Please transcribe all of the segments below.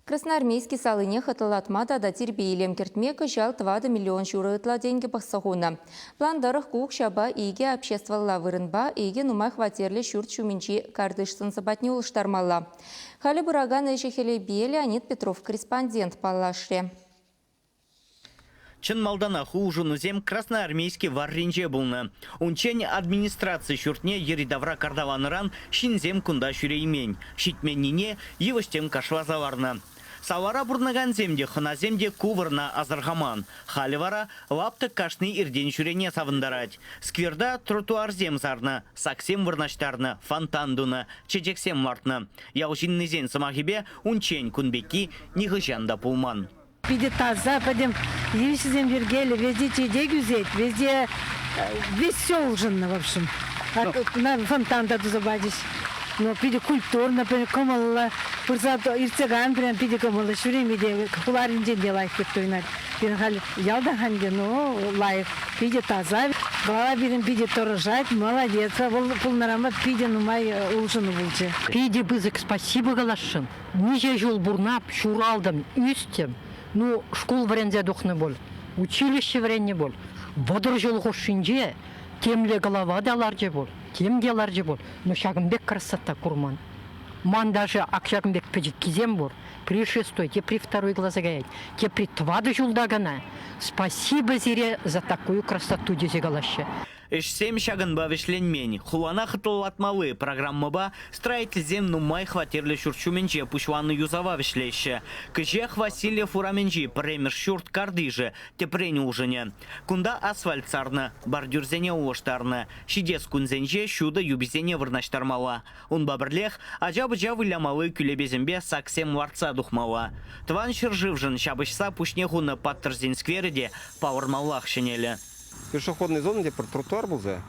Красноармейски салине хӑтлӑлатма тата тирпей-илем кӗртме кӑҫал тӑватӑ миллион ҫурӑ ытла тенкӗ пӑхса хунӑ. План тӑрӑх ку укҫапа икӗ обществӑлла вырӑнпа икӗ нумай хваттерлӗ ҫурт ҫумӗнчи картиш сӑн-сӑпатне улӑштармалла. Халӗ пыракан ӗҫӗ-хӗлӗпе Леонид Петров корреспондент паллашрӗ. Чӑн малтанах улшӑнусем Красноармейски варринче пулнӑ. Унччен администраци ҫуртне йӗри-тавра карталанӑран ҫынсем кунта ҫӳреймен, ҫитменнине йывӑҫсем кашласа ларнӑ. Салара пурӑнакансем те, хӑнасем те ку вырӑна асӑрхаман. Халӗ вара лаптӑк кашни иртен ҫӳрене савӑнтарать. Скверта тротуарсем сарнӑ, саксем вырнаҫтарнӑ, фонтан тунӑ, чечексем лартнӑ. Ял ҫыннисен сӑмахӗпе, унччен кун пекки нихӑҫан та пулман. Питӗ таса, пӗтӗм тивӗҫӗсем йӗркеллӗ, везде чечек ӳсет, везде весело улшӑннӑ, в общем. Фонтан та туса пачӗҫ. Но питӗ культурно, питӗ кӑмӑллӑ. Пырса иртсе кайан прям питӗ кӑмӑллӑ. Ҫӳреме те, хуларинчен те лайӑх пек туйӑнать. Пирӗн халь ялтах ӗнтӗ, ну, лайӑх, питӗ таса. Бала пирӗн питӗ тӑрӑшать, молодец. Вӑл пулнӑранпа питӗ нумай улшӑну пулчӗ. Питӗ пысӑк спасибо каласшӑн. Миҫе ҫул пурнап, ҫуралтӑм, ӳстӗм. Ну, шкул вӗренсе тухнӑ пуль, училище вӗреннӗ пуль. Вӑтӑр ҫул хушшинче темле кӑлава та ларчӗ пуль, тем те ларчӗ пуль, но ҫакӑн пек красота курман. Ман даже ак ҫакӑн пек пӗчӗккисем пур, при шестой, тепри второй класа каять, тепри тӑватӑ ҫулта кӑна. Спасибо сире за такую красоту, тесе калаҫҫӗ. Ӗҫсем ҫакӑнпа вӗҫленмен. Хулана хӑтлӑлатмалли программӑпа строительсем нумай хваттерлӗ ҫурт ҫумӗнче пуҫланнӑ юсава вӗҫлеҫҫӗ. Кӗҫех Васильев урамӗнчи пӗрремӗш ҫурт картишӗ тӗпрен улшӑнӗ. Кунта асфальт сарнӑ, бордюрсене улӑштарнӑ. Ҫитес кунсенче ҫутӑ юписене вырнаҫтармалла. Унпа пӗрлех ача-пӑча вылямалли кӳлепесемпе саксем лартса тухмалла. Тӑван ҫӗршывшӑн ҫапӑҫса пуҫне хунӑ паттӑрсен скверӗ те палӑрмаллах ҫӗнелӗ. Пешеходнӑй зони те пӗр тротуар пулса,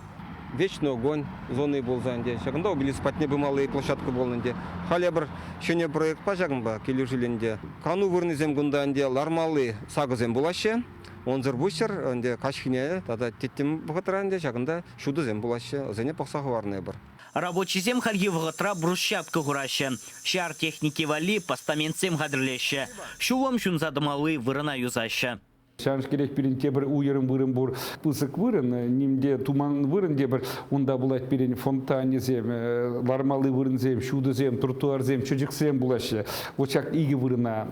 Вечный огонь зони пулса ӗнтӗ. Ҫакӑнта обелиск патне пымалли площадка пулнӑ ӗнтӗ. Халӗ пӗр ҫӗнӗ проектпа ҫакӑнпа килӗшӳллӗ ӗнтӗ. Кану вырӑнӗсем кунта ӗнтӗ лармалли сакӑсем пулаҫҫӗ. Унсӑр пуҫҫӗр ӗнтӗ каҫхине тата тӗттӗм вӑхӑтра ӗнтӗ ҫакӑнта ҫутӑсем пулаҫҫӗ, вӗсене пӑхса хӑварнӑ эпӗр. Рабочисем хальхи вӑхӑтра брусчатка хураҫҫӗ, ҫар техники валли постаментсем хатӗрлеҫҫӗ, ҫулӑм ҫунса тӑмалли вырӑна юсаҫҫӗ. Ҫавӑнпа пирӗн тепӗр уйрӑм вырӑн пур, пысӑк вырӑн, ним те туман вырӑн тепӗр. Унта пулать пирӗн фонтанӗсем, лармалли вырӑнсем, ҫутӑсем, тротуарсем, чечексем пулаҫҫӗ. Вот ҫак икӗ вырӑна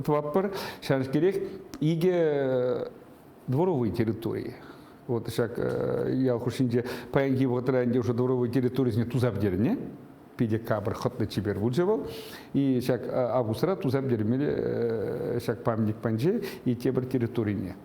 тӑватпӑр. Ҫавӑнпа икӗ дворовые территории. Вот ҫак ял хушшинче паянхи вӑхӑтра ӗнтӗ уже дворовой территорисене туса пӗтернӗ. питӗ капӑр хӑтлӑ чипер пулчӗ вӑл. И ҫак августра туса пӗтермелле ҫак памятник панче и тепӗр территорине.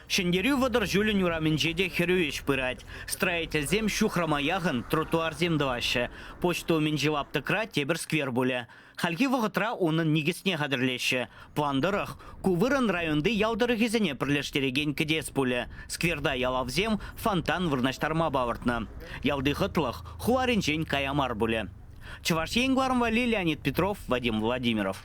Ҫӗнтерӳ Вӑтӑр ҫулӗн урамӗнче те хӗрӳ ӗҫ пырать. Строительсем ҫухрӑма яхӑн тротуарсем тӑваҫҫӗ. Почта умӗнчи лаптӑкра тепӗр сквер пулӗ. Хальхи вӑхӑтра унӑн никӗсне хатӗрлеҫҫӗ. План тӑрӑх, ку вырӑн районти ял тӑрӑхӗсене пӗрлештерекен кӗтес пулӗ. Скверта ялавсем, фонтан вырнаҫтарма палӑртнӑ. Ялти хӑтлӑх хуларинчен кая мар пулӗ. Чӑваш Ен кӑларӑм валли Леонид Петров, Вадим Владимиров.